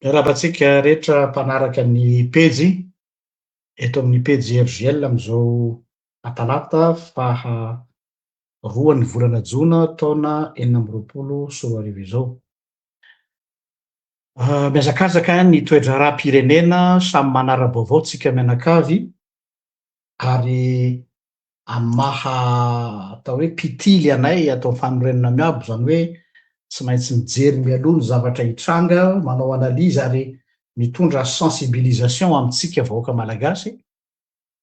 Miarahaba antsika rehetra mpanaraka ny pejy eto amin'ny pejy RGL amin'izao atalata faha roan'ny volana jona taona enina amby roapolo sy roa arivo izao. Ah, mihazakazaka ny toe-draharaham-pirenena, samy manara-baovao tsika mianakavy. ary amin'ny maha atao hoe mpitily anay ato amin'ny fanorenana miabo, izany hoe tsy maintsy mijery mialoha ny zavatra hitranga, manao analyse ary mitondra sensibilisation amintsika vahoaka malagasy,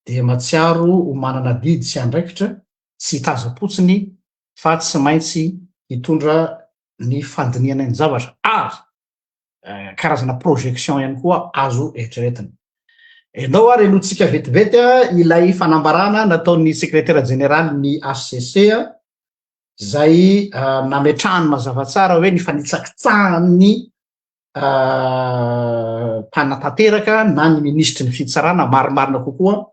dia matsiaro ho manana adidy sy andraikitra tsy hitazam-potsiny fa tsy maintsy hitondra ny fandinihana ny zavatra ary. karazana projection ihany koa azo eritreretina. Ianao ary alohantsika vetivety ilay fanambarana nataon'ny sekretera jeneraly ny HCC izay ah, nametrahany mazava tsara hoe ny fanitsakitsahan'ny ah, mpanatanteraka na ny minisitry ny fitsarana marimarina kokoa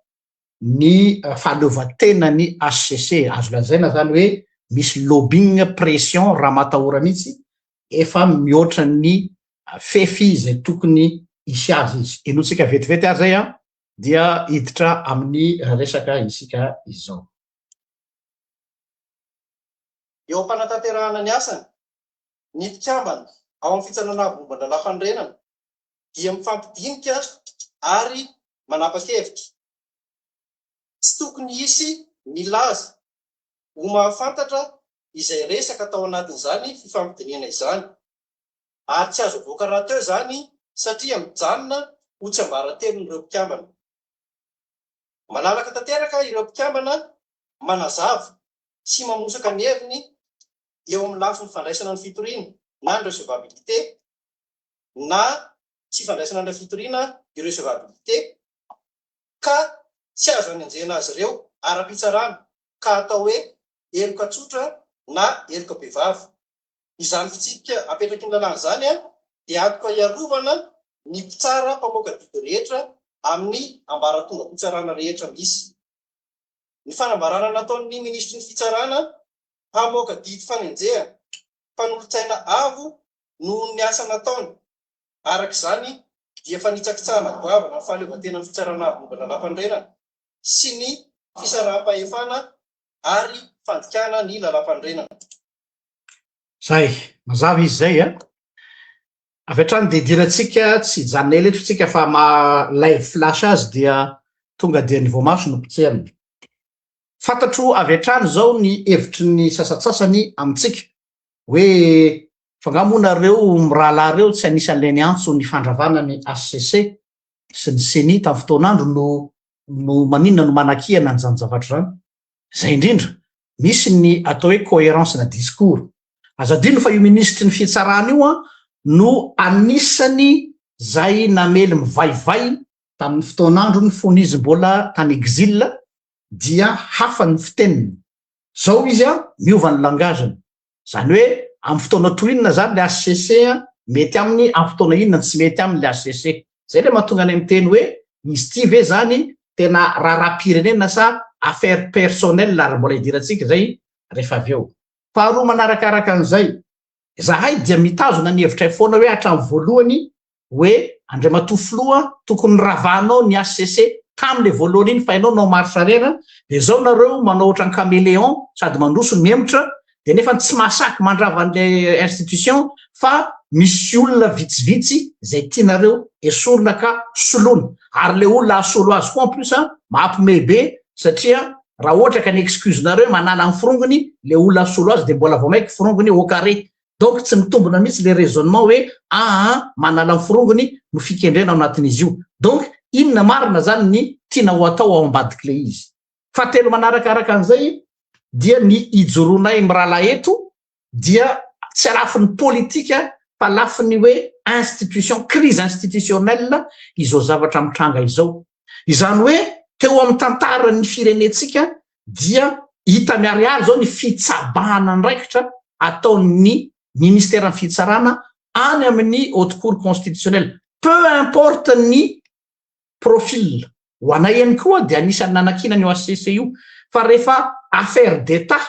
ny fahaleovantenan'ny HCC. Azo lazaina zany hoe misy lobbying, pression, ramatahora mihitsy, efa mihoatra ny fefy izay tokony hisy azy izy. Henointsika vetivety ary zay an, dia hiditra amin'ny resaka isika izao. Eo am-panatanterahana ny asany, ny mpikambana ao amin'ny fitsananavomban-dralaham-panorenana dia mifampidinika ary manapa-kevitra. Tsy tokony hisy milaza ho mahafantatra izay resaka tao anatin'izany fifampidinihana izany, ary tsy azo avoaka rahateo izany satria mijanona ho tsiambaratelon'ireo mpikambana. Malalaka tanteraka ireo mpikambana manazava sy mamosaka ny heviny eo amin'ny lafiny fandraisana ny fitoriana na ny recevabilité na tsy ifandraisana amin'ilay fitoriana, irrecevabilité, ka tsy azo anenjehina azy ireo ara-pitsarana ka atao hoe heloka tsotra na heloka bevava. Izany fitsipika apetraky ny lalàna izany dia antoka hiarovana ny mpitsara mpamoaka didy rehetra amin'ny ambaratongam-pitsarana rehetra misy. Ny fanambarana nataon'ny Minisitry ny Fitsarana hamoaka didy fanenjehana mpanolotsaina avo noho ny asa nataony. Araka izany, dia fanitsakitsahana goavana ny fahaleovantenan'ny Fitsarana Arivonimba Lalampanorenana sy ny fisaraham-pahefana ary fandikana ny lalampanorenana. Izay, mazava izy izay a! Avy hatrany dia idirantsika, tsy hijanona ela eto isika fa maha live flash azy dia tonga dia ny voamaso no potserina. Fantatro avy hatrany izao ny hevitry ny sasantsasany amintsika hoe fa nga moa nareo mirahalahy reo tsy anisan'ilay niantso ny fandravana ny HCC sy ny ceni tam fotoanandro no no maninona no manakihana an'izany zavatra izany? Zay indrindra, misy ny atao hoe coherence na discours. Aza adino fa io minisitry ny fitsarana io an no anisany zay namely mivaivay tamin'ny fotoan'androny fony izy mbola tany exil dia hafa ny fiteniny Zao izy an, miova ny langage-ny. Zany hoe am fotoana toy inona zany le HCC an, mety aminy am fotoana inona ny tsy mety aminy le HCC. Zay le mahatonga anay miteny hoe izy ty ve zany tena raharaham-pirenena sa affaire personnelle ary mbola hidirantsika zay refa avy eo. Faharoa manarakaraka an'izay, zahay dia mitazona ny hevitray foana hoe hatram voalohany hoe Andriamatoa Filoha tokony ravahanao ny HCC tamin'ilay voalohany iny fa ianao no en marche arrière dia izao nareo manao ohatran'ny caméléon sady mandroso no mihemotra dia nefa tsy mahasaky mandrava an'ilay institution fa misy olona vitsivitsy izay tianareo esorina ka soloina ary ilay olona asolo azy koa en plus a mahapomehy be satria raha ohatra ka ny excuse nareo manala ny forongony ilay olona asolo azy dia mbola vao maika forongony au carré donc tsy mitombona mihitsy le raisonnement hoe aa manala ny forongony no fikendrena ao anatin'izy io donc inona marina zany ny tiana ho atao ao ambadik'le izy. Fahatelo manarakaraka an'izay dia ny ijoroanay mirahalahy eto dia tsy alafin'ny politika fa lafin'ny hoe institution crise institutionnelle izao zavatra mitranga izao Izany hoe teo amin'ny tantaran'ny firenentsika dia hita miharihary izao ny fitsabahana andraikitra ataon'ny Ministeran'ny Fitsarana any amin'ny Haute Cour Constitutionnelle, peu importe ny profil. Ho anay ihany koa dia anisan'ny nanakiana an'io HCC io fa rehefa affaire d'Etat,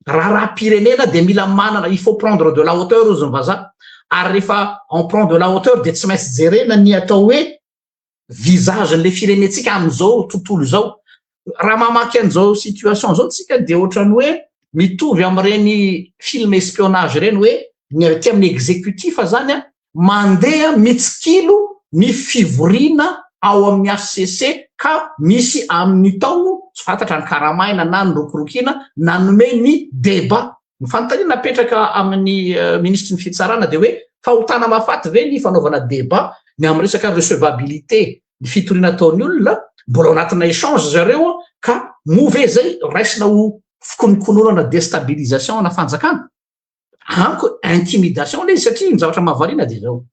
raharaham-pirenena dia mila manana, il faut prendre de la hauteur hozy ny vazaha, ary rehefa on prend de la hauteur dia tsy maintsy jerena ny atao hoe visage n'le firenentsika amin'izao tontolo izao. Raha mamaky an'izao situation izao tsika dia ohatran'ny hoe mitovy amin'ireny film espionnage ireny hoe ny avy aty amin'ny executif zany an, mandeha mitsikilo ny fivoriana ao amin'ny HCC ka misy amin'ny tao tsy fantatra ny karamaina na ny rokorokiana nanome ny debat. Ny fanontaniana apetraka amin'ny Minisitry ny Fitsarana dia hoe fahotana mahafaty ve ny fanaovana débat ny amin'ny resaka recevabilité ny fitoriana ataon'ny olona, mbola ao anatina échange ry zareo ka moa ve izay raisina ho fikonokononana destabilisation ana fanjakana? Amiko intimidation ilay izy satria ny zavatra mahavariana dia izao.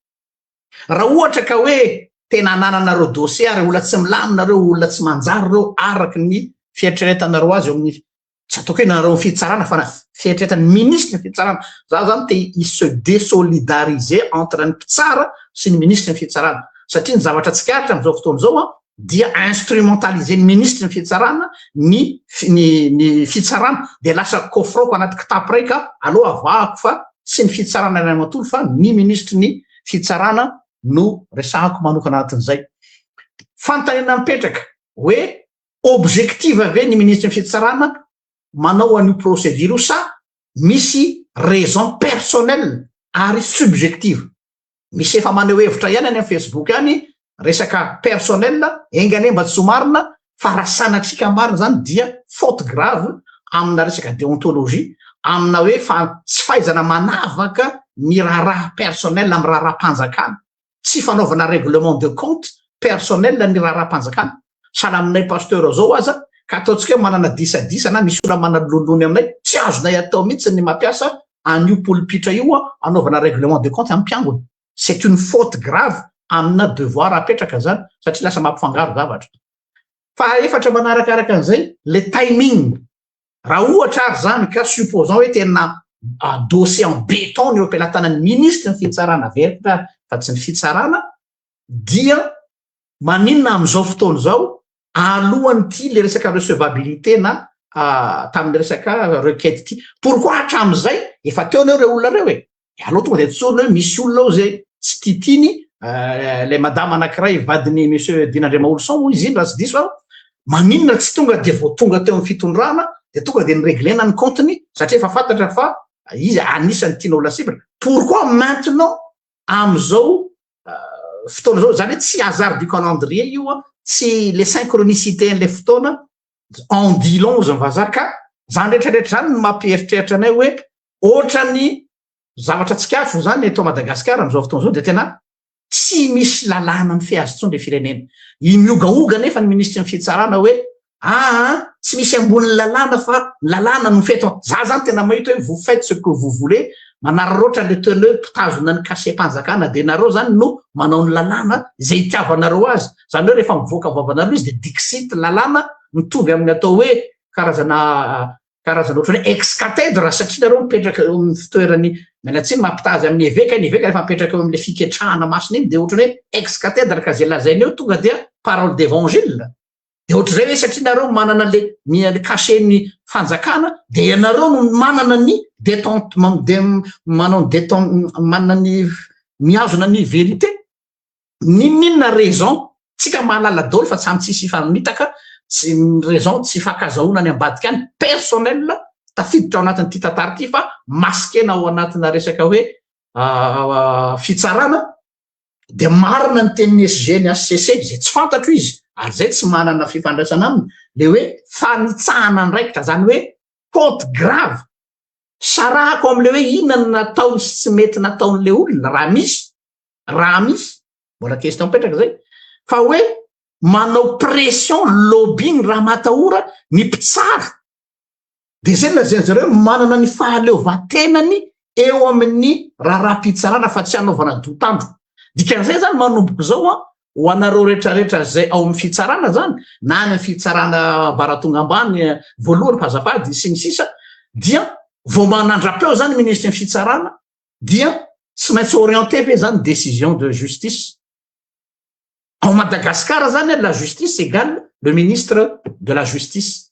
Raha ohatra ka hoe tena anananareo dossier ary olona tsy milamina ireo olona tsy manjary ireo araka ny fieritreretanareo azy eo amin'ny tsy ataoko hoe nareo fitsarana fa na fieritretan'ny ministre fitsarana za zany te i se désolidariser entre ny mpitsara sy ny ministre ny fitsarana satria ny zavatra tsikaritra am'izao fotoana izao a dia instrumentaliser ny ministre ny fitsarana ny ny ny fitsarana dia lasa kofroko anaty kitapo ray ka aloha avahako fa tsy ny fitsarana iray matory fa ny ministre ny fitsarana no resahako manokana anatin'izay fanontaniana mipetraka hoe objective ve ny ministry ny fitsarana manao an'io procédure io sa misy raison personnelle ary subjective misy efa maneho hevitra ihany any amin'ny facebook any resaka personnel enga anie mba tsy ho marina fa raha sanatriaka marina zany dia faute grave amina resaka déontologie amina hoe fa tsy fahaizana manavaka ny raharaha personnel amin'ny raharaha-panjakana tsy fanaovana règlement de compte personnel ny raharaham-panjakana. Sahala aminay Pasteur zao aza ka ataontsika hoe manana disadisa na misy olona manalonony aminay, tsy azonay atao mihitsy ny mampiasa an'io polpitra io anaovana règlement de compte amin'ny mpiangona. C'est une faute grave amina devoir apetraka zany satria lasa mampifangaro zavatra. Faha efatra manarakaraka an'izay, le timing. Raha ohatra ary izany ka, supposons hoe tena adossé en béton ny eo am-pelatanan'ny minisitry ny fitsarana veritra fa tsy ny fitsarana, dia maninona amin'izao fotoana izao, alohan'ity ilay resaka recevabilité na tamin'ny resaka requête ity? Pourquoi hatramin'izay efa teo aloha ireo olona ireo e? Ianao tonga dia tsorina hoe misy olona ao izay tsy tia tiany eh, ilay madama anankiray vadin'ny monsieur Dina Andriamaolison moa izy iny raha tsy diso aho, maninona tsy tonga dia vao tonga teo amin'ny fitondrana dia tonga dia nireglena ny compte-ny satria efa fantatra fa izy anisan'ny tianao lasibra. Pourquoi maintenant amin'izao eh, fotoana izao, izany hoe tsy hasard du calendrier io an, tsy le synchronicité an'ilay fotoana, en dit long hozy ny vazaha ka izany rehetra rehetra izany no mampieritreritra anay hoe ohatran'ny zavatra tsikafo zany eto Madagascar amzao fotoana zao dia tena tsy misy lalàna mifehy azy intsony le firenena. I mihogahoga nefa ny minisitry ny fitsarana hoe aa ah, tsy misy ambonin'ny lalàna fa ny lalàna no mifehy eto. Za zany tena mahita hoe vous faites ce que vous voulez, manararaotra le teneur mpitazona ny cachet-panjakana dia nareo zany no manao ny lalàna izay itiavanareo azy. Zany hoe rehefa mivoaka vavanareo izy dia dixit lalàna mitovy amin'ny atao hoe karazana karazana ohatry hoe ex cathedra satria nareo mipetraka eo amin'ny fitoeran'ny mianatsiny mampitaha azy amin'ny eveka ny eveka rehefa mipetraka eo amin'ilay fiketrahana masina iny dia ohatry hoe ex cathedra ka izay lazaina eo tonga dia parole d'évangile dia ohatry izay hoe satria nareo manana le ny cachen'ny fanjakana dia ianareo no manana ny détente manao détente manana ny mihazona ny vérité N'inon'inona raison tsika mahalala daoly fa samy tsisy hifamitaka sy ny raison tsy hifankazahoana any ambadika any personnel tafiditra ao anatin'ity tantara ity fa masikena ao anatina resaka hoe fitsarana dia marina ny tenin'ny SG ny HCC izay tsy fantatro izy ary izay tsy manana fifandraisana aminy le hoe fanitsahana andraikitra zany hoe faute grave sarahako amle hoe inona no nataony sy tsy mety nataon'le olona raha misy raha misy mbola question mipetraka zay fa hoe manao pression lobbying raha matahora ny mpitsara de zay lazain'izy ireo manana ny fahaleovantenany eo amin'ny raharaham-pitsarana fa tsy hanaovana dotandro dikan'izay zany manomboka izao a ho anareo rehetrarehetra zay ao amin'ny fitsarana zany na any fitsarana varatonga ambany eh, voalohany fazafady sy ny sisa dia vao manandrapeo zany ministry ny fitsarana dia tsy maintsy orienté ve zany décision de justice ao Madagascar zany la justice égale le ministre de la justice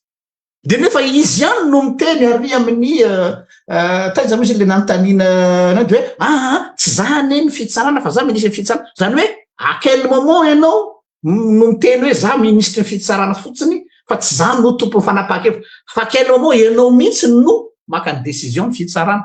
de nefa izy ihany no miteny ary amin'ny euh, euh, taiza misy le nanontaniana euh, anao de hoe aa ah, ah, tsy za anie ny fitsarana fa za ministre ny fitsarana zany hoe à quel moment ianao no miteny hoe za ministre ny fitsarana fotsiny fa tsy za no tompon'ny fanapaha-kevitra fa quel moment ianao mihitsy no maka ny décision ny fitsarana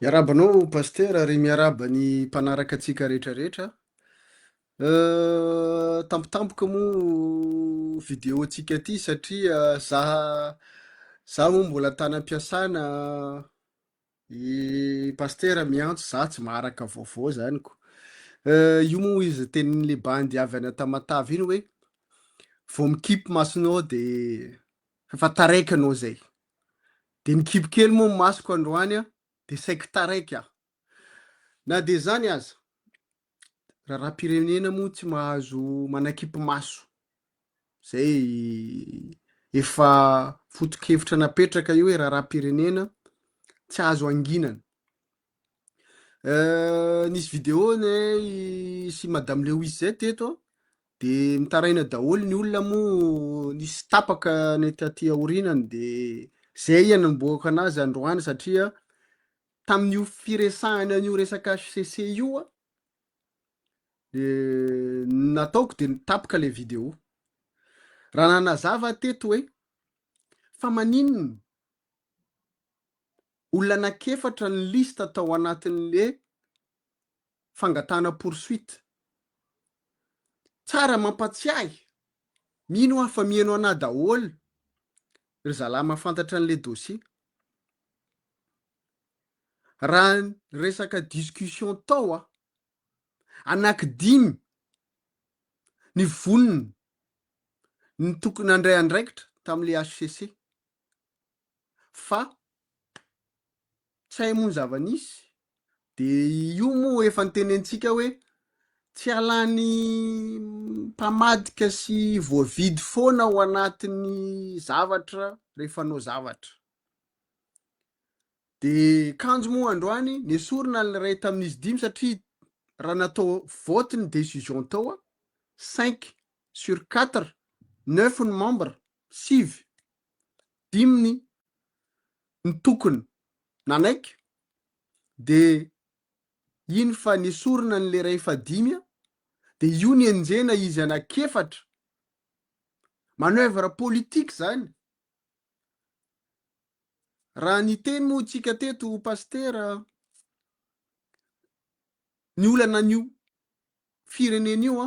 Miarahaba anao Pasitera ary miarahaba ny mpanaraka antsika rehetra rehetra. Tampotampoka moa vidéo antsika ity satria za za moa mbola tany am-piasana i Pasitera miantso za tsy maharaka vaovao zany ko. Io moa izy tenin'le bandy avy any Tamatave iny hoe vao mikipy masonao de efa taraiky anao zay. Dia nikibo kely moa ny masoko androany dia saiky taraiky aho. Na dia izany aza, raharaham-pirenena moa tsy mahazo manakipy maso. Izay efa foto-kevitra napetraka io hoe raharaham-pirenena tsy azo anginana. Euh, nisy vidéo ne sy madame Lewis zay teto de mitaraina daholo ny olona moa nisy tapaka ny taty aorinany de zay iany niboaka anazy androany satria tamin'io firesahana an'io resaka HCC io a de nataoko de nitapaka le vidéo raha nanazava teto hoe fa maninona Olona anak'efatra ny liste tao anatin'le fangatahana poursuite. Tsara mampatsiahy, mino aho fa mihaino anah daholo ry zalahy mahafantatra an'le dossier. Raha resaka discussion tao aho, anakidimy ny vonona ny tokony handray andraikitra tam'le HCC. fa tsy hay moa ny zava-nisy de io moa efa nitenentsika hoe tsy halan'ny mpamadika sy voavidy foana ao anatin'ny zavatra rehefa anao zavatra de kanjo moa androany nesorina ny iray tamin'izy dimy satria raha natao vote ny decision tao a cinq sur quatre neuf ny membre sivy diminy ny tokony nanaiky de iny fa nesorina ny le ray fa dimy a de io ny enjehina izy anaky efatra manoeuvre politique zany raha niteny moa tsika teto pasitera ny olana anio firenena io a.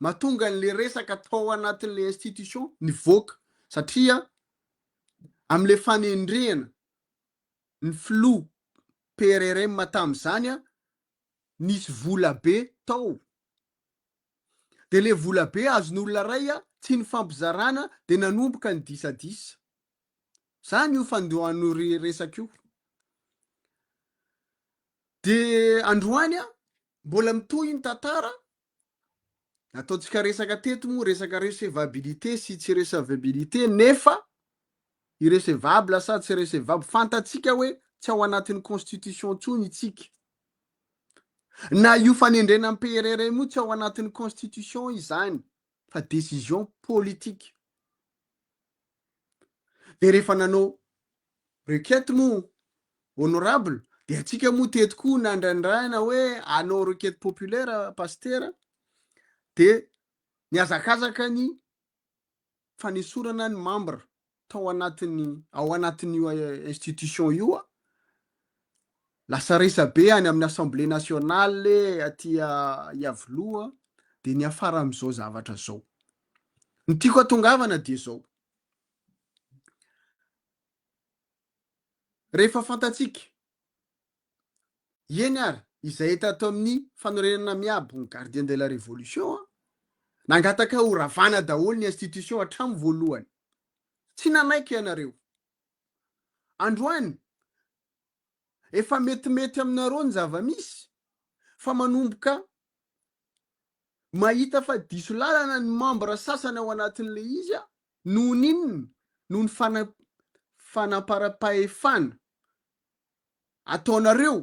mahatonga an'ilay resaka tao anatin'ilay institution nivoaka satria amin'ilay fanendrehana ny filoha PRRM tamin'izany nisy vola be tao dia ilay vola be azon'olona iray tsy nifampizarana dia nanomboka ny disadisa. Izany io fandohan'io resaka io. Dia androany mbola mitohy ny tantara Nataontsika resaka teto moa resaka recevabilité sy tsy recevabilité nefa irrecevable sa tsy recevable fantatsika hoe tsy ao anatin'ny constitution intsony itsika. Na io fanendrena am-PRRM io tsy ao anatin'ny constitution izany. fa décision politique. Dia rehefa nanao requête moa honorable dia antsika moa teto koa nandrandraina hoe anao requête populaire pasitera dia nihazakazaka ny fanesorana ny membre tao anatin'ny ao anatin'io institution io a, lasa resabe any amin'ny assemblée nationale aty Iavoloha dia niafara amin'izao zavatra zao. Ny tiako atongavana dia zao. Rehefa fantatsika Eny ary, izay hita tao amin'ny fanorenana miabo ny Gardien de la Révolution, nangataka ho ravana daholo ny institution hatramin'ny voalohany. Tsy nanaiky ianareo. Androany, efa metimety aminareo ny zava-misy fa manomboka mahita fa diso lalana ny membres sasany ao anatin'ilay izy noho ny inona? Noho ny fanamparam-pahefana. ataonareo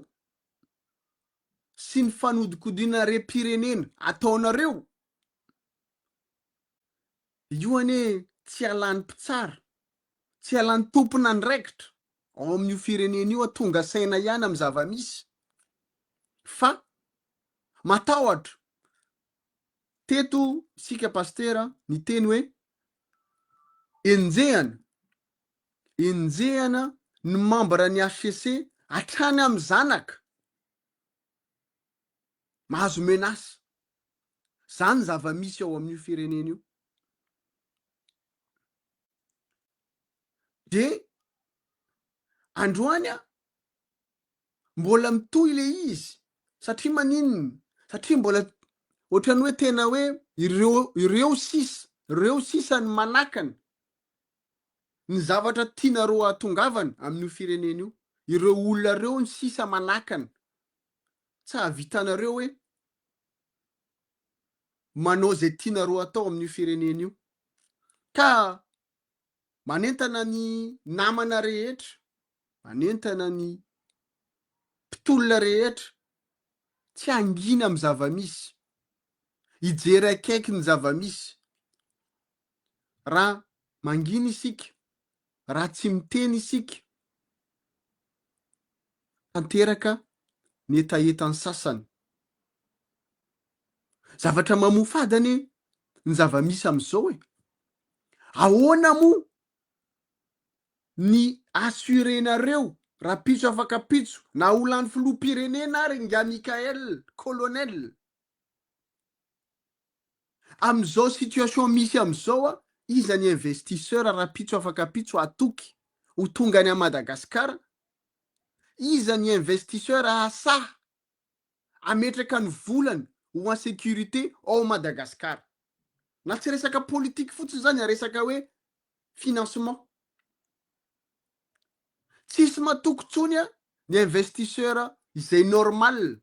sy ny fanodikodinarem-pirenena ataonareo io anie tsy ialan'ny mpitsara, tsy ialan'ny tompon'andraikitra ao amin'io firenena io a, tonga saina ihany amin'ny zava-misy fa matahotra. Teto isika Pasitera niteny hoe enjehana Enjehana ny mambra ny HCC hatrany amin'ny zanaka mahazo menace. Zany ny zava-misy ao amin'io firenena io. Dia androany aho mbola mitohy le izy satria maninona? Satria mbola ohatran'ny hoe tena hoe ireo ireo sisa ireo sisa ny manakana ny zavatra tianareo hahatongavana amin'io firenena io, ireo olona ireo ny sisa manakana, tsy hahavitanareo hoe manao izay tianareo hatao amin'io firenena io, ka manentana ny namana rehetra, manentana ny mpitolona rehetra, tsy hangina amin'ny zava-misy, hijery akaiky ny zava-misy, raha mangina isika, raha tsy miteny isika, tanteraka ny hetahetan'ny sasany. Zavatra mamoafady anie ny zava-misy amin'izao e! Ahoana moa ny assurer-nareo rapitso afaka pitso na ho lany filoham-pirenena ary ingahy Mickaël, colonel? Amin'izao situation misy amin'izao a, iza ny investisseur rapitso afaka pitso hatoky ho tonga any à Madagascar? Iza ny investisseur hahasaha hametraka ny volany ho en sécurité ao Madagascar? Na tsy resaka politique fotsiny izany a, resaka hoe financement. Tsisy matoky intsony a, ny investisseur izay normal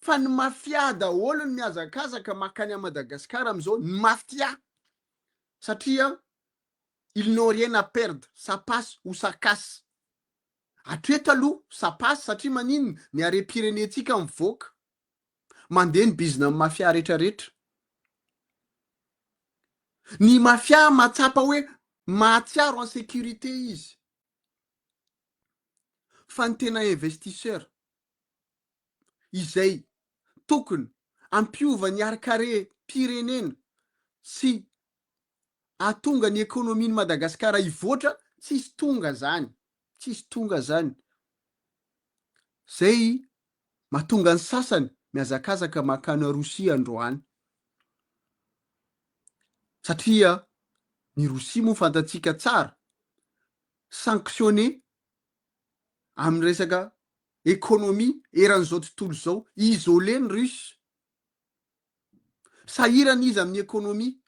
Fa ny mafia daholo ny mihazakazaka makany à Madagascar amizao ny mafia satria ils n'ont rien à perdre ça passe ou ça casse hatreto aloha ça passe satria maninona ny harem-pirenentsika mivoaka mandeha ny bizina ny mafia rehetra rehetra ny mafia mahatsapa hoe mahatsiaro en sécurité izy fa ny tena investisseur izay tokony hampiova ny harin-karem-pirenena sy hahatonga ny ekonomin'i Madagasikara hivoatra, tsisy tonga izany, tsisy tonga izany. Izay mahatonga ny sasany mihazakazaka mankany Rosia androany. Satria ny Rosia moa fantatsika tsara, sanctionné amin'ny resaka économie eran'izao tontolo izao, isolé ny russe, sahirana izy amin'ny économie,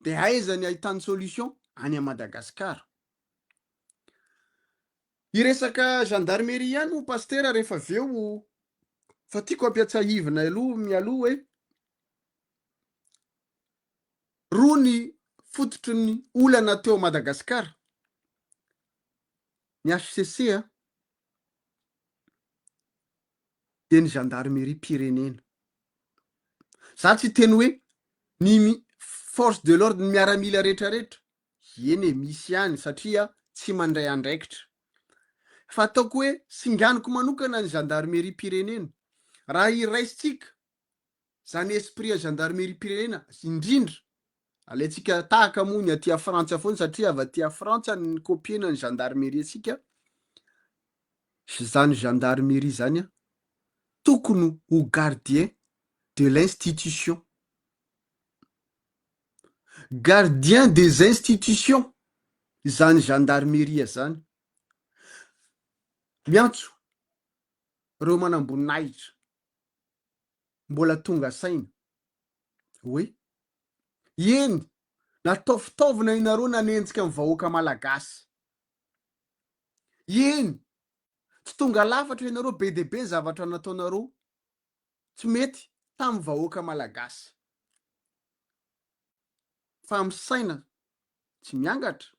dia aiza ny ahitany solution? Any à Madagascar. Hiresaka gendarmerie ihany hoy Pasitera rehefa avy eo fa tiako ampiatsahivina aloha mialoha hoe roa ny fototry ny olana teo Madagasikara, ny HCC a, dia ny zandarimeriam-pirenena. Za tsy hiteny hoe ny force de l'ordre, ny miaramila rehetra rehetra, eny e, misy ihany satria tsy mandray andraikitra, fa ataoko hoe singaniko manokana ny zandarimeriam-pirenena, raha iraisintsika Zany esprit ya gendarmerie pirenena indrindra alaintsika tahaka moa ny aty a frantsa foana satria avy aty a frantsa no nikopiena ny gendarmerie antsika zany gendarmerie zany a tokony ho gardien de l'institution gardien des institutions zany gendarmerie zany miantso reo manamboninahitra mbola tonga saina hoe eny natao fitaovana ianareo nanenjika ny vahoaka malagasy, eny tsy tonga lafatra ianareo be dia be zavatra nataonareo tsy mety tamin'ny vahoaka malagasy. fa amin'ny saina tsy miangatra?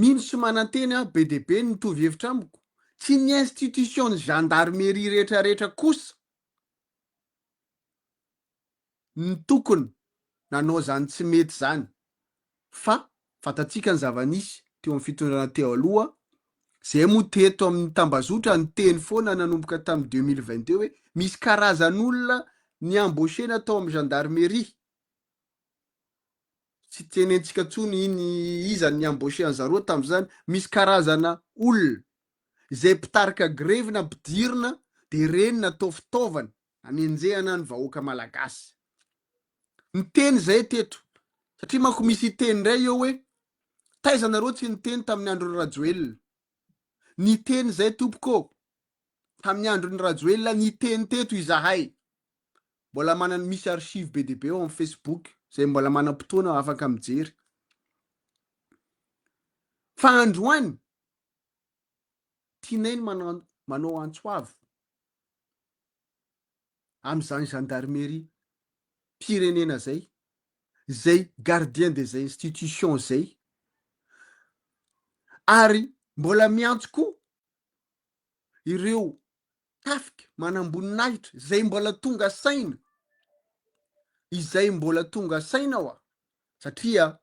Mino sy mananteny aho be dia be ny mitovy hevitra amiko. Tsy ny institution-n'ny gendarmerie rehetra rehetra kosa no tokony nanao izany tsy mety izany. fa fantatsika ny zava-nisy teo amin'ny fitondrana teo aloha, izay moa teto amin'ny tambazotra niteny foana nanomboka tamin'ny deux mille vingt deux hoe misy karazan'olona ni-embaucher-na tao amin'ny gendarmerie, tsy tenentsika intsony iny iza no ni-embaucher an'i zareo tamin'izany, misy karazana olona izay mpitarika grevy na mpidirina dia ireny natao fitaovana Hanenjehana ny vahoaka malagasy. Niteny izahay teto, satria manko misy hiteny indray eo hoe taiza nareo tsy niteny tamin'ny andron'i Rajoelina. Niteny izahay tompoko ô! Tamin'ny andron'i Rajoelina niteny teto izahay. Mbola manana misy archives be dia be eo amin'ny Facebook, izay mbola manam-potoana afaka mijery. Fa androany, tianay ny manao antso avo. amin'izany gendarmerie mpirenena izay, izay gardien des institutions izay, ary mbola miantso koa ireo tafika manamboninahitra izay mbola tonga saina, izay mbola tonga saina hoa, satria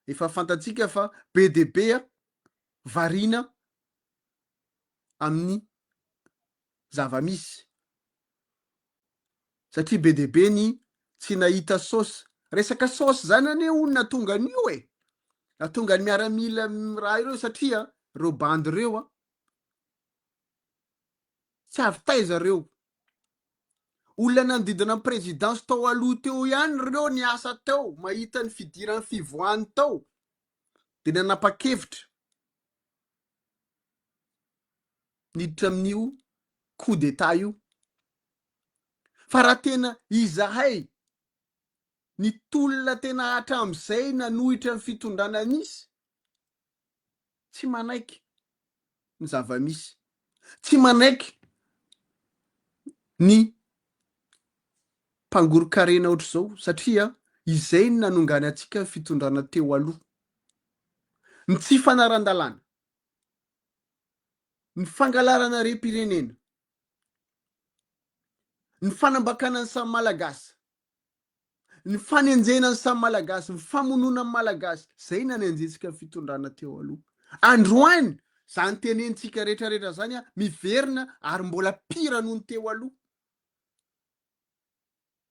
efa fantatsika fa be dia be variana amin'ny zava-misy satria be dia be ny tsy nahita saosy. Resaka saosy izany anie hono nahatonga an'io e! Nahatonga ny miaramila raha ireo satria ireo bandy ireo tsy avy taiza ireo. Olona nanodidina ny prezidansy tao aloha teo ihany ireo niasa teo, mahita ny fidiran'ny fivoahany tao dia nanapa-kevitra niditra amin'io coup d'etat io fa raha tena izahay ny tolona tena hatramin'izay nanohitra ny fitondrana nisy tsy manaiky ny zava-misy tsy manaiky ny mpangoron-karena ohatr'izao satria izay ny nanongany antsika ny fitondrana teo aloha Ny tsy fanaran-dalàna, ny fangalarana harem-pirenena, ny fanambakana ny samy Malagasy, ny fanenjehana ny samy Malagasy, ny famonoana ny Malagasy, izay nanenjentsika fitondrana teo aloha. Androany, izany tenenitsika rehetrarehetra izany miverina ary mbola pire noho ny teo aloha.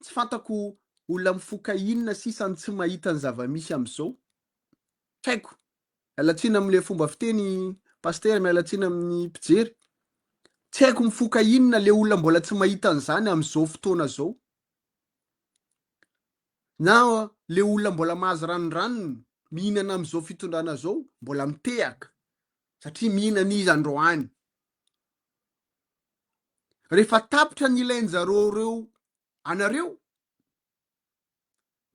Tsy fantako olona mifoka inona sisa no tsy mahita ny zava-misy amin'izao. Tsy haiko. Miala tsiny amin'ilay fomba fiteny Pasitera, miala tsiny amin'ny mpijery. Tsy haiko mifoka inona ilay olona mbola tsy mahita an'izany amin'izao fotoana izao. Na ilay olona mbola mahazo ranondranony mihinana amin'izao fitondrana izao mbola mitehaka satria mihinana izy androany. Rehefa tapitra ny ilainjareo ireo anareo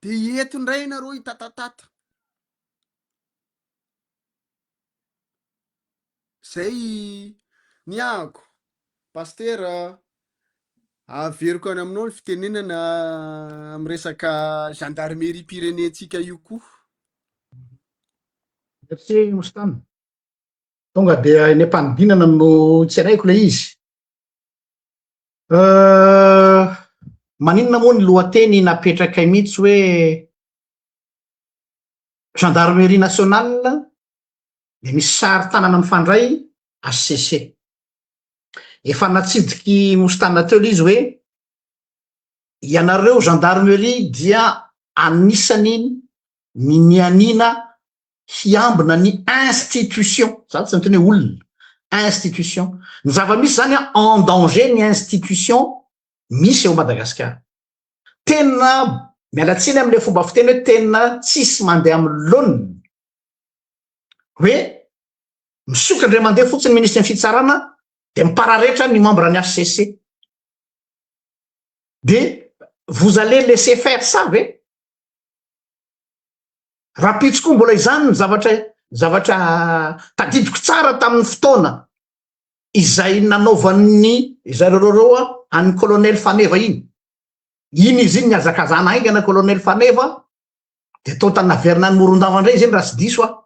dia hieto indray ianareo hitatatata. Zay ny ahako. Pastera, averiko any aminao ny fitenenana amin'ny resaka gendarmerie pirenentsika io koa. Merci Mostan. Tonga dia eny am-panidinana no tseraiko ilay izy. Maninona moa ny lohateny napetrakay mihitsy hoe Gendarmerie nationale dia misy sary tanana mifandray HCC. Efa natsidiky Mostan Nateul izy hoe ianareo Gendarmerie dia anisany ny nianiana hiambina ny institution, za tsy niteny hoe olona, institution, ny zava-misy zany an, en danger ny institution misy ao Madagasikara. Tena miala tsiny amin'ilay fomba fiteny hoe tena tsisy mandeha amin'ny laoniny, hoe misokatra indray mandeha fotsiny ny minisitry ny fitsarana dia mipararetra ny membre ny HCC. Dia vous allez laisser faire ça ve? Rahampitso koa mbola izany ny zavatra zavatra tadidiko tsara tamin'ny fotoana izay nanaovan'ny zareo an'ny colonel Faneva iny. Iny izy iny nihazakazana haingana colonel Faneva dia tonta naverina any Morondava indray izy iny raha tsy diso aho.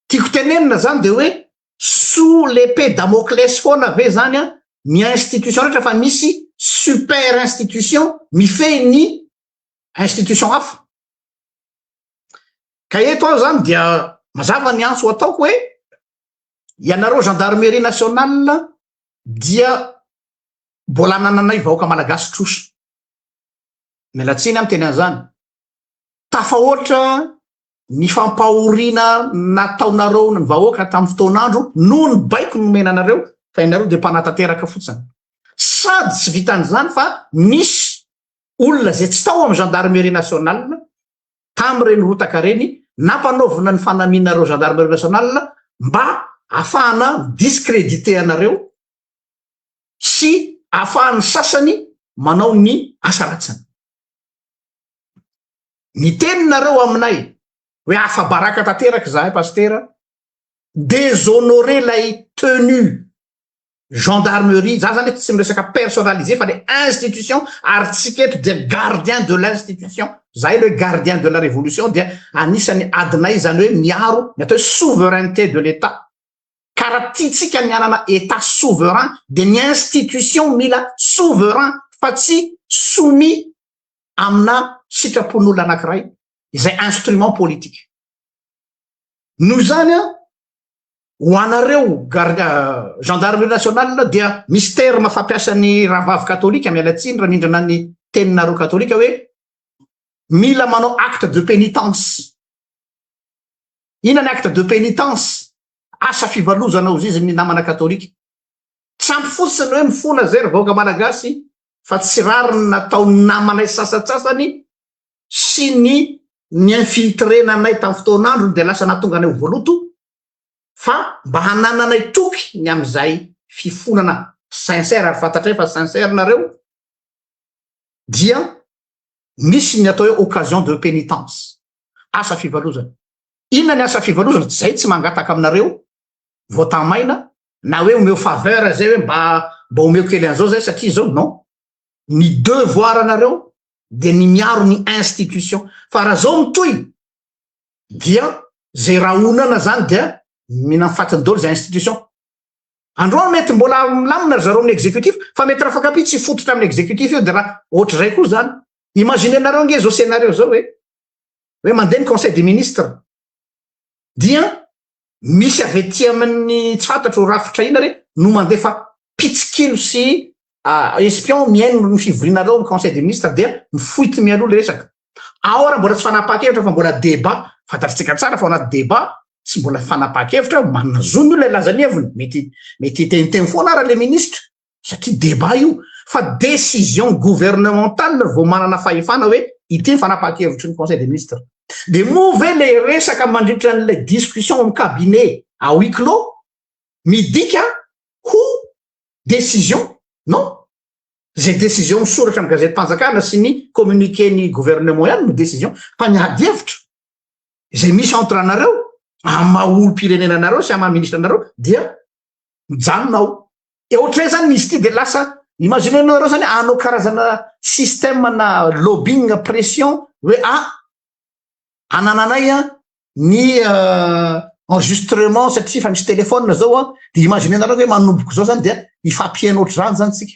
Tiako tenenina izany dia hoe sous l'épée Damoclès foana ve izany ny institution rehetra fa misy super institution mifehy ny institution hafa ka eto aho zany dia mazava ny antso ataoko hoe ianareo gendarmerie nationale dia mbola anananay vahoaka malagasy trosa mialatsiny am teny an'izany tafahoatra ny fampahoriana nataonareo ny vahoaka tamin'ny fotoan'andro noho ny baiko nomena anareo fa ianareo dia mpanatanteraka fotsiny sady tsy vitan'izany fa misy olona izay tsy tao amin'ny Gendarmerie Nationale tamin'ireny rotaka ireny nampanaovina ny fanamiana ireo Gendarmerie Nationale mba afahana mi-discréditer anareo sy afahan'ny sasany manao ny asa ratsiny. Niteny nareo aminay hoe afa-baraka tanteraka izahay Pasitera, déshonorer ilay tenue gendarmerie, za zany tsy miresaka personnalisé fa le institution ary tsika eto dia gardien de l'institution, zay aloha hoe gardien de la révolution dia anisan'ny adinay zany hoe miaro ny atao hoe souveraineté de l'Etat. Ka raha tiantsika ny hanana Etat souverain dia ny institution mila souverain fa tsy soumis amina sitrapon'olona anankiray izay instrument politique. Noho izany an, ho anareo gar- gendarmerie nationale dia misy terme fampiasan'ny rahavavy katolika miala tsiny raha mindrana ny teninareo katolika hoe mila manao acte de pénitence inona ny acte de pénitence asa fivalozana ho zizy ny namana katolika tsy ampy fotsiny hoe mifona zay ry vahoaka malagasy fa tsy rariny nataon'ny namanay sasatsasany sy ny ny infiltré-nanay tamin'ny fotoan'androny dia lasa nahatonga anay ho voaloto fa mba hanananay toky ny amin'izay fifonana sincère ary fantatray fa sincère nareo dia misy ny atao hoe occasion de pénitence asa fivalozana inona ny asa fivalozana tsy zay tsy mangataka aminareo votant maina na hoe omeo faveur zay hoe mba mba omeo kely an'izao zay satria zao non ny devoir anareo dia ny miaro ny institution fa raha zao mitohy dia zay rahonana zany dia mihinan'ny fatiny daholo zay institution androany mety mbola milamina ry zareo amin'ny exécutif fa mety raha fankapia tsy fototra amin'ny exécutif io dia raha ohatr'izay koa zany imaginenareo ange zao scenario zao hoe hoe mandeha ny conseil des ministres dia Misy avy ety amin'ny tsy fantatro rafitra inona re no mandefa mpitsikilo sy espion mihaino ny fivorianareo amin'ny conseil des ministres dia mifoity mialoha ilay resaka. Ao ary mbola tsy fanapahan-kevitra fa mbola débat. Fantatsika tsara fa ao anaty débat tsy mbola fanapahan-kevitra, manana zo ny olona hilaza ny heviny, mety mety hiteniteny foana ary ilay ministra. satria débat io fa décision gouvernementale vao manana fahefana hoe ity ny fanapahan-kevitry ny conseil des ministres dia moa ve le resaka mandritra an'ilay discussion amin'ny cabinet à huis clos midika ho décision non zay décision misoratra amin'ny gazetim-panjakana sy ny communiqué ny gouvernement ihany no décision fa ny adihevitra izay misy entre anareo amin'ny maha olom-pirenena anareo sy amin'ny maha ministra anareo dia mijanona ao Dia ohatran'izay zany izy ity dia lasa imaginez-nao ianareo zany hanao karazana système na lobbying pression hoe ah anananay an ny enregistrement satria efa misy téléphone zao an dia imaginez-nareo hoe manomboko zao zany dia hifampihaino ohatr'izany zany tsika.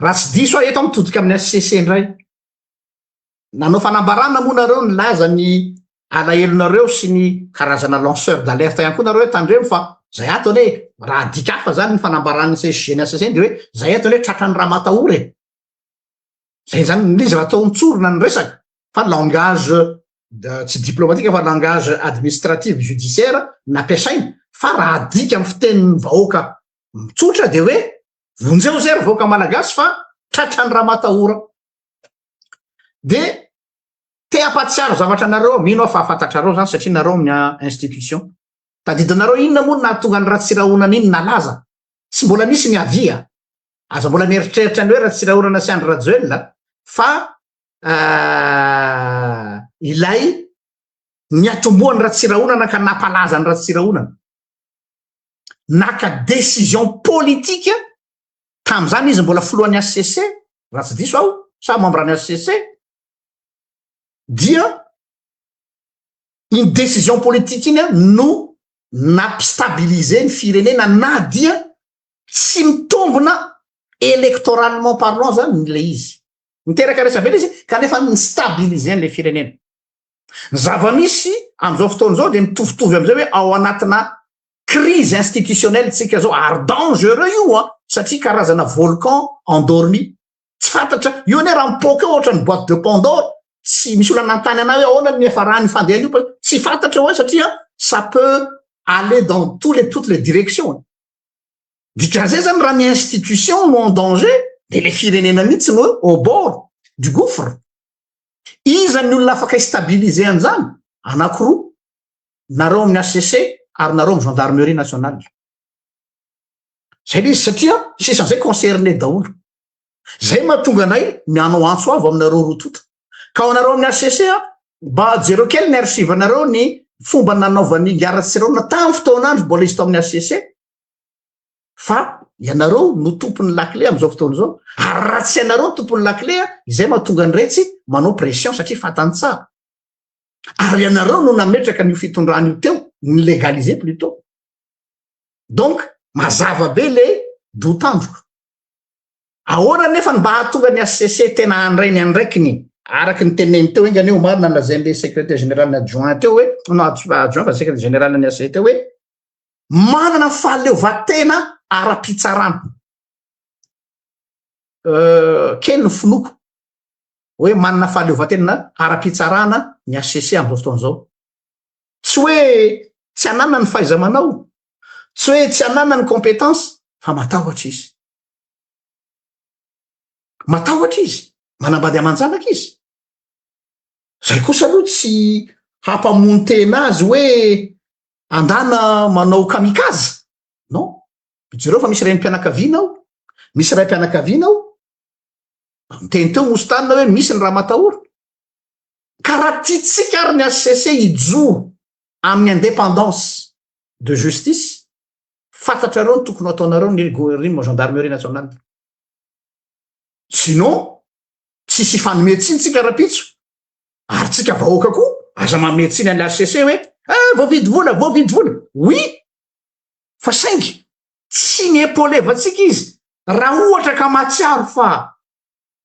Raha tsy diso aho, eto aho mitodika amin'ny HCC indray. Nanao fanambarana moa nareo nilaza ny alahelonareo sy ny karazana lanceur d'alerte ihany koa nareo hoe tandremo fa zay ato anie raha adika hafa zany ny fanambaran'ny CSG ny HCC dia hoe zay ato anie tratran'ny ramatahora e. Zay zany nilizy raha tao mitsorona ny resaka fa langage tsy diplomatika fa langage administratif judiciaire nampiasaina fa raha adika amin'ny fitenin'ny vahoaka mitsotra dia hoe Vonjeo zay ry vahoaka malagasy fa tratran'ny ramatahora. Dia te hampahatsiaro zavatra anareo aho, mino aho fa fantatrareo zany satria nareo ny institution. Tadidinareo inona moa no nahatonga an'i Ratsirahonana iny nalaza? Tsy mbola nisy ny avis a! Aza mbola mieritreritra ny hoe Ratsirahonana sy Andry Rajoelina fa ilay niatombohan'i Ratsirahonana ka nampalaza an'i Ratsirahonana. naka décision politique tamin'izany izy mbola filohan'ny HCC raha tsy diso aho sa membre ny HCC dia iny décision politique iny no nampistabiliser ny firenena na dia tsy mitombona électoralement parlant zany le izy miteraka resabe le izy kanefa ny stabiliser an'le firenena Ny zava-misy amin'izao fotoana izao dia mitovitovy amin'izay hoe ao anatina crise institutionnelle tsika zao ary dangereux io a satria karazana volcan endormi tsy fantatra io anie raha mipoaka eo ohatrany boîte de pandore tsy misy olona nantany anay hoe ahoana ny niafarany io fandehany io tsy fantatra eo satria ça peut aller dans tous les toutes les directions dikazay zany raha ny institution no en danger dia le firenena mihitsy no au bord du gouffre Iza ny olona afaka hi-stabiliser an'izany? Anakiroa, nareo amin'ny HCC ary nareo amin'ny Gendarmerie Nationale. Izay ilay izy satria sisa an'izay concerné daholo. Izay mahatonga anay mianao antso avo aminareo roa tonta. Ka ho anareo amin'ny HCC, mba jereo kely ny archive-nareo ny fomba nanaovan'ny Gardes Sirona tamin'ny fotoanandro mbola izy tao amin'ny HCC. fa ianareo no tompon'ny lakile amin'izao fotoana izao ary raha tsy ianareo tompon'ny lakile a izay mahatonga ny retsy manao pression satria fantany tsara ary ianareo no nametraka an'io fitondrana io teo ny legaliser plutot donc mazava be le dotandroko ahoana nefa ny mba hahatonga ny hcc tena handray ny andraikiny araka ny teneny teo engany omarina lazain'le secrétaire général adjoint teo hoe no adjoint fa secrétaire général ny hcc teo hoe manana fahaleovantena ara-pitsarana. Kely ny finoako hoe manana fahaleovantena ara-pitsarana ny HCC amin'izao fotoana izao. Tsy hoe tsy ananana ny fahaiza-manao, tsy hoe tsy ananana ny compétence, fa matahotra izy. Matahotra izy, manambady aman-janaka izy. Zay kosa aloha tsy hampamono tena azy hoe Andana manao kamikaze? Non. Jereo fa misy renim-pianakaviana ao, misy raim-pianakaviana ao. Niteny teo Moustane hoe misy ny ramatahora. Ka raha tiantsika ary ny HCC hijoro amin'ny indépendance de justice, fantatrareo ny tokony hataonareo ny Goerrim Gendarmerie Nationale. Sinon, tsisy hifanome tsiny tsika rahampitso ary tsika vahoaka koa aza mame tsiny an'le HCC hoe eh, voavidy vola voavidy vola oui fa saingy tsy ny epolevantsika izy raha ohatra ka mahatsiaro fa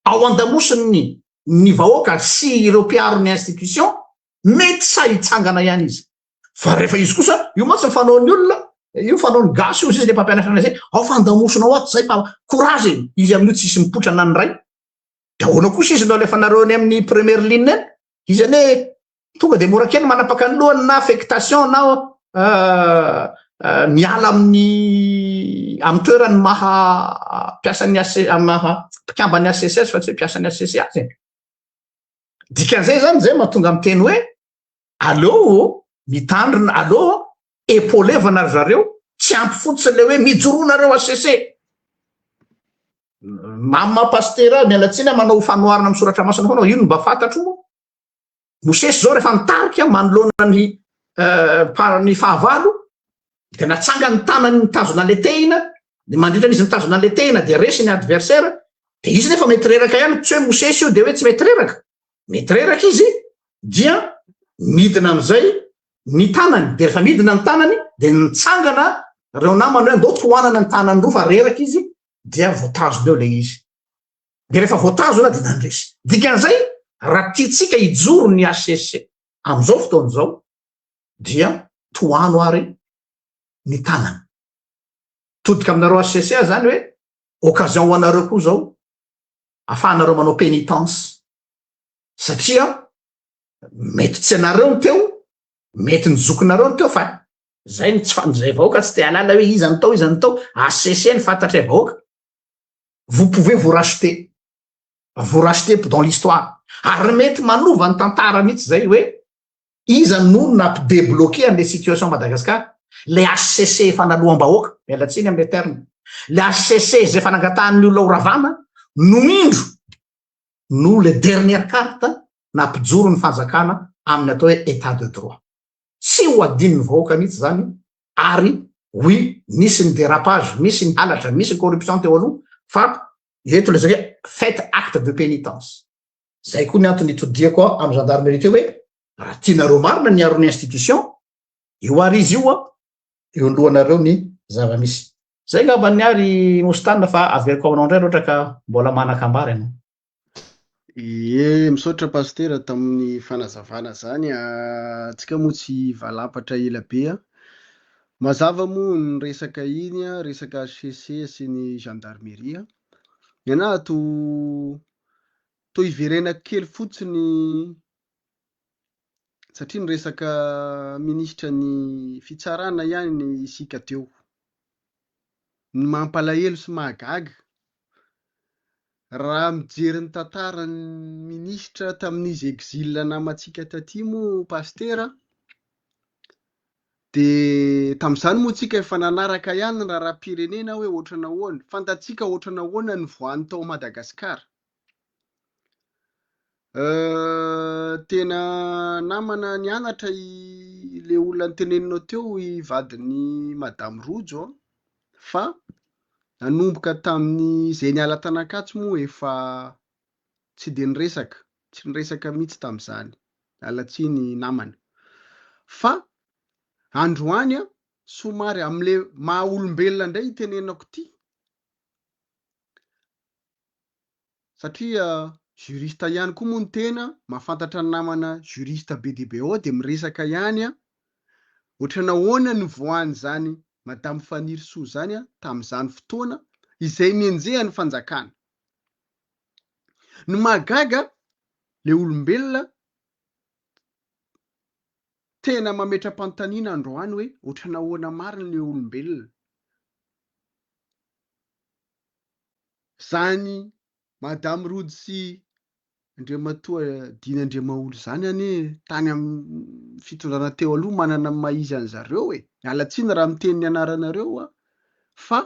ao andamosin'ny ny vahoaka sy ireo mpiaro ny institution mety sa hitsangana ihany izy fa rehefa izy kosa io mantsy ny fanaon'ny olona io fanaon'ny gasy io zay le mpampianatra anay zay ao fa andamosinao ato zay fa courage izy amin'io tsisy mipoitra na ny ray de ahoana kosa izy no alefanareo any amin'ny première ligne any izy anie tonga de mora kely manapaka ny lohany na affectation na euh, euh, miala amin'ny amin'ny toerany maha mpiasan'ny ac maha mpikamban'ny accs fa tsy hoe mpiasan'ny acc azy dikan'izay zany zay mahatonga miteny hoe Aleo mitandrina, aleo epaulevana ry zareo, tsy ampy fotsiny le hoe mijoroa nareo HCC. Mama Pasitera, miala tsiny a, manao fanoharana amin'ny soratra masina foana, io no mba fantatro moa. Mosesy zao rehefa nitarika manoloana ny eh, ny fahavalo, dia natsanga ny tanany nitazona an'ilay tehina, ny mandritra n'izy nitazona an'ilay tehina dia resy ny adversaire, dia izy nefa mety reraka ihany, tsy hoe Mosesy io dia hoe tsy mety reraka. mety reraka izy dia midina amin'izay ny tanany dia rehefa midina ny tanany dia nitsangana reo namany hoe ndao tohanana ny tanany roa fa reraka izy dia voatazona eo le izy dia rehefa voatazona dia nandresy dikan'izay raha tiantsika hijoro ny HCC amin'izao fotoana izao dia tohano ary ny tanany todika aminareo HCC zany hoe occasion ho anareo koa zao afahanareo manao pénitence satria mety tsy anareo ny teo mety ny zokinareo ny teo fa zay ny tsy fanizay vahoaka tsy te alala hoe iza ny tao iza ny tao HCC ny fantatray vahoaka vous pouvez vous racheter vous racheter dans l'histoire ary mety manova ny tantara mihitsy zay hoe Iza no nampi debloquer anle situation Madagascar? Le HCC efa naloam bahoaka, miala tsiny amle terme, le HCC zay efa nangatahan'ny olona ho ravana no indro no le dernière carte nampijoro ny fanjakana amin'ny atao hoe etat de droit. Tsy ho adinon'ny vahoaka mihitsy zany ary oui nisy ny dérapage, misy ny halatra, misy ny corruption teo aloha fa eto le zaka hoe faites acte de pénitence. Zay koa ny antony itodiako amin'ny gendarmerie teo hoe raha tianareo marina ny aron'ny institution, io ary izy io an, eo alohanareo ny zava-misy. Zay ngamba ny ahy ry Moustane fa averiko aminao indray raha ohatra ka mbola manan-kambara ianao. Ie, misaotra Pasitera tamin'ny fanazavana zany a, antsika moa tsy valampatra ela be a. Mazava moa ny resaka iny a, resaka HCC sy ny gendarmerie a. Ianà to to iverenako kely fotsiny satria niresaka minisitra ny fitsarana ihany isika teo. Ny mampalahelo sy mahagaga raha mijery ny tantaran'ny minisitra tamin'izy exil namantsika taty moa Pasitera Dia tamin'izany moa tsika efa nanaraka ihany ny raharaham-pirenena hoe ohatrana ahoana. Fantatsika ohatrana ahoana ny voany tao Madagasikara. Tena namana nianatra ilay olona noteneninao teo, i vadin'i Madame Rojo an! Fa nanomboka tamin'izay niala tanan-katsy moa efa tsy dia niresaka, tsy niresaka mihitsy tamin'izany, miala tsiny namana. Fa androany a, somary amin'ilay maha olombelona indray itenenako ity, satria juriste ihany koa moa ny tena, mahafantatra ny namana juriste be dia be ao dia miresaka ihany a, ohatran'ny ahoana nivoahan'izany Madame Fanirisoa izany a, tamin'izany fotoana izay nenjehan'ny fanjakana. Ny mahagaga le olombelona tena mametra-panontaniana androany hoe otrany ahoana marina le olombelona. Zany madame Rojo sy Andriamatoa Dina Andriamaholy zany anie tany amin'ny fitondrana teo aloha manana ny maha izy an'zareo e. Miala tsiny raha miteny ny anaranareo aho fa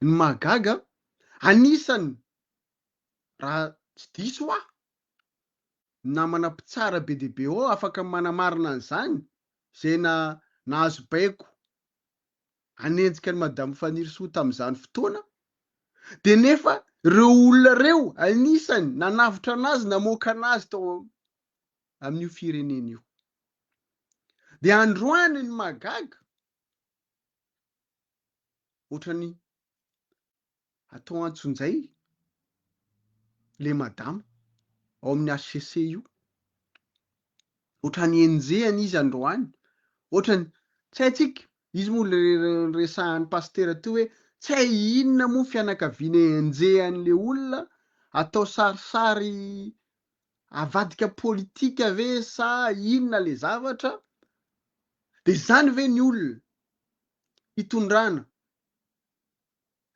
Ny mahagaga, anisany, raha tsy diso aho, ny namana mpitsara be dia be ao afaka manamarina an'izany, izay nahazo baiko hanenjika an'i Madame Fanirisoa tamin'izany fotoana, dia nefa ireo olona ireo anisany nanavotra an'azy namoaka an'azy tao amin'io firenena io. Dia androany ny mahagaga, otrany atao antsonjay le madama ao amin'ny HCC io, otrany enjehana izy androany, otrany tsy haintsika, izy moa le resahan'ny pasitera teo hoe tsy hay inona moa fianakaviana enjehan'le olona, atao sarisary avadika politika ve sa inona le zavatra, de zany ve ny olona hitondrana.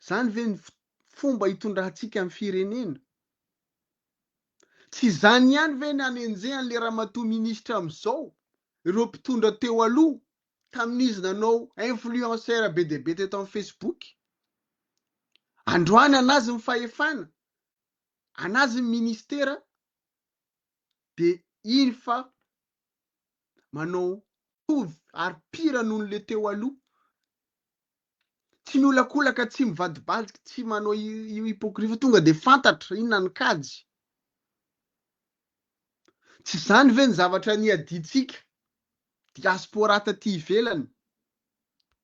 Izany ve ny fomba hitondrantsika ny firenena? Tsy izany ihany ve ny anenjehan'ilay ramatoa minisitra amin'izao ireo mpitondra teo aloha tamin'izy nanao influenceur be dia be teto amin'ny Facebook? Androany an'azy ny fahefana, an'azy ny ministera dia iny fa manao mitovy ary pire noho ny le teo aloha, tsy miolakolaka, tsy mivadibadiky, tsy manao io hypocrisie fa tonga dia fantatra inona ny kajy. Tsy izany ve ny zavatra niadiantsika diaspora taty ivelany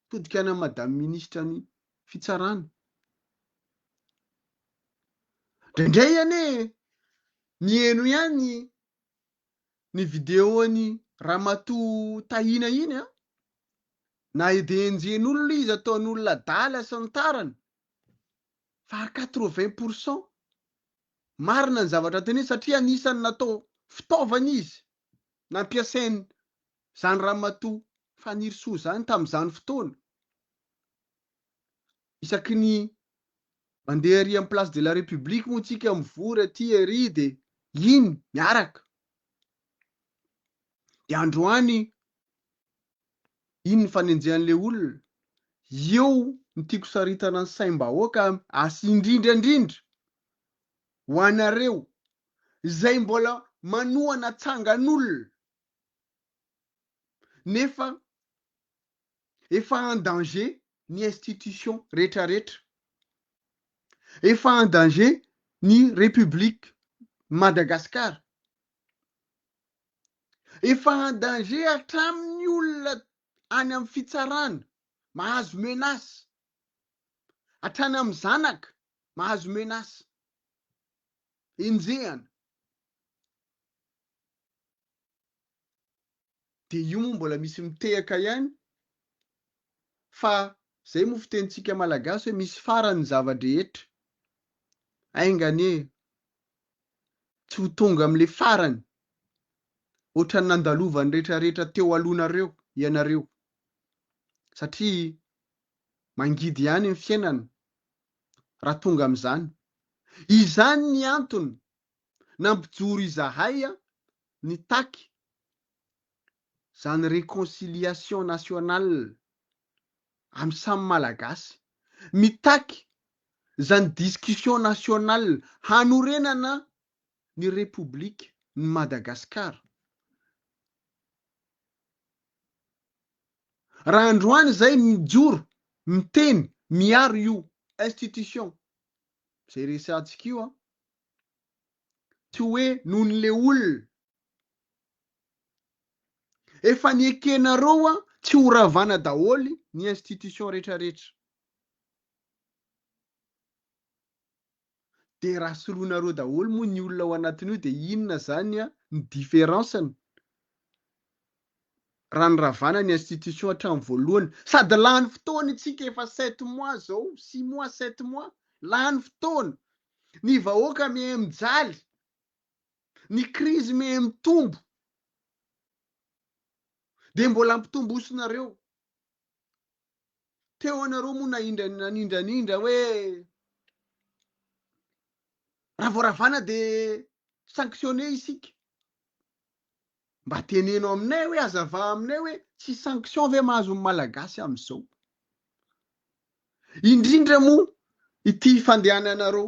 todika ana madame ministra ny fitsarana? Indraindray anie miheno ihany ny video an'i Ramatoa Tahina iny an! Na edenjen'olona izy ataon'olona adala sy ny tariny fa ary quatre vingt pour cent marina ny zavatra teneniny satria anisan'ny natao fitaovana izy nampiasain'izany Ramatoa Fanirisoa izany tamin'izany fotoana. Isaky ny mandeha ery amin'ny place de la République moa tsika mivory aty ery dia iny miaraka. Dia androany iny ny fanenjehan'le olona. Eo ny tiako saritana ny saim-bahoaka sy indrindra indrindra ho anareo izay mbola manohana tsangan'olona nefa Efa en danger ny institutions retraretra. Efa en danger ny République Madagascar. Efa en danger hatramin'ny olona any amin'ny fitsarana mahazo menace. Hatrany amin'ny zanaka mahazo menace. Enjehana. dia io moa mbola misy mitehaka ihany fa zay moa fitenintsika malagasy hoe misy farany ny zava-drehetra, ainga anie tsy ho tonga amin'le farany ohatran'ny nandalovan'ny retraretra teo alohanareo ianareo satria mangidy ihany ny fiainana raha tonga amin'izany, izany ny antony nampijoro izahay nitaky zany reconciliation nationale am samy malagasy, mitaky zany discussion nationale hanorenana ny Repoblika ny Madagascar. Raha androany izay mijoro, miteny, miaro io institution izay resahantsika io an, tsy hoe nohon' le olona. Efa niekenareo a tsy ho ravana daholy ny institution rehetra rehetra. De raha soroinareo daholy moa ny olona ao anatin'io de inona zany a ny difference-ny. raha niravana ny institution hatramin'ny voalohany. Sady lany fotoana itsika efa sept mois zao, six mois, sept mois. Lany fotoana. Ny vahoaka miha mijaly. Ny krizy miha mitombo. Dia mbola ampitombosonareo. Teo anareo moa nanindranindranindranindrana hoe raha vao ravana dia sanctionner isika. Mba teneno aminay hoe azava aminay hoe tsy sanction ve mahazo ny malagasy amizao? Indrindra moa ity fandehananareo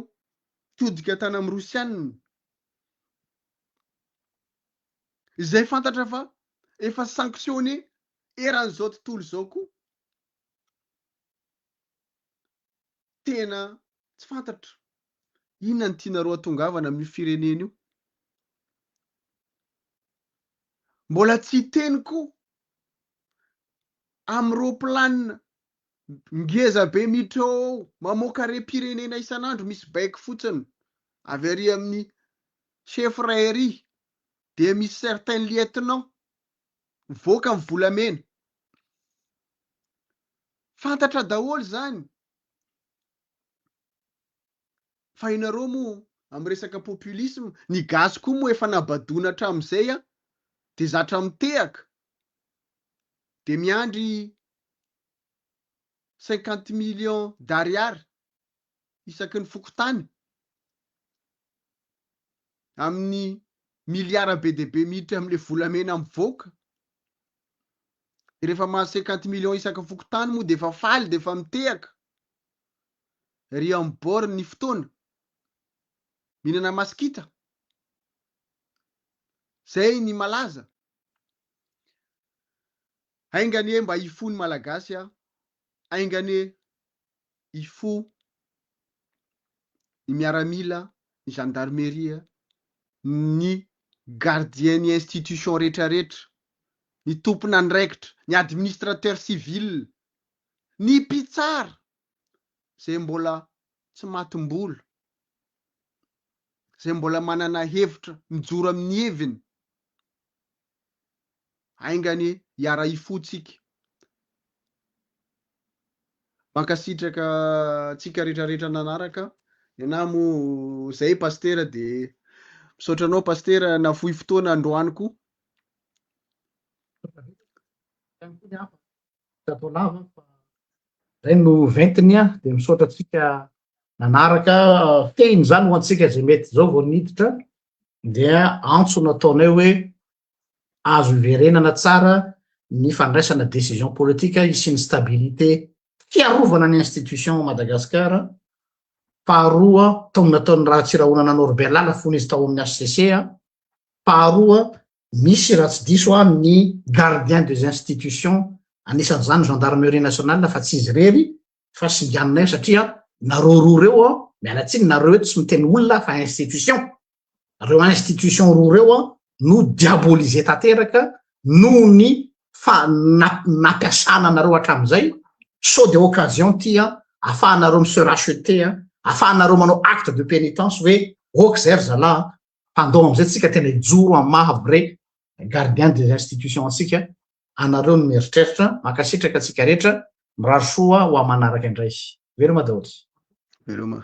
todika tany amin'ny rosianina izay fantatra fa efa sanctionné eran'izao tontolo izao koa. tena tsy fantatro inona no tianareo atongavana amin'io firenena io. Mbola tsy hiteny koa amin'ny roplanina ngeza be miditra ao ao, mamoaka harem-pirenena isan'andro misy baiko fotsiny avy ary amin'ny chef iray ary dia misy certain lieutenant mivoaka amin'ny volamena. Fantatra daholo zany fa ianareo moa am resaka populisme ny gasy koa moa efa nabadoina hatramizay a! de zatra mitehaka de miandry cinquante millions d'ariary isaky ny fokontany amin'ny milliards be dia be miditra amle volamena mivoaka Dia rehefa mahazo cinquante millions isaka fokontany moa dia efa faly dia efa mitehaka. Ry amin'ny bord ny fotoana. Mihinana masikita. Zay ny malaza. Ainga anie mba hifoha ny malagasy a. Ainga anie hifoha ny miaramila, ny gendarmerie, ny gardien ny institution rehetra rehetra, ny tompon'andraikitra, ny administrateur civil, ny mpitsara izay mbola tsy matim-bola, izay mbola manana hevitra mijoro amin'ny heviny. Ainga anie hiara hifotsika. Mankasitraka antsika rehetra rehetra nanaraka. Nenaha moa zay Pasitera dia misaotra anao Pasitera nafoy fotoana androany koa. Zay no ventiny a, dia misaotra antsika nanaraka. Fitehiny izany ho antsika izay mety izao vao niditra. dia antso nataonay hoe azo iverenana tsara ny fandraisana décision politique hisian'ny stabilité fiarovana ny institution ao Madagascar faharoa tao nataon'ny Ratsirahonana Norbert Lala fony izy tao amin'ny HCC faharoa misy raha tsy diso aho ny gardien des institutions anisan'izany gendarmerie nationale fa tsy izy irery fa singanina eo satria nareo roa reo a miala tsiny nareo eto tsy miteny olona fa institution reo institution roa reo a no diabolise tanteraka noho ny fa nampiasana anareo hatramin'izay so de occasion ty a afahanareo mi se racheter a afahanareo manao acte de pénitence hoe ok zay ry zalaha mpandoa am'izay tsika tena hijoro am maha vrai Gardien des institutions antsika, anareo no mieritreritra, mankasitraka antsika rehetra, mirary soa ho amanaraka indray. Veloma daholo. Veloma.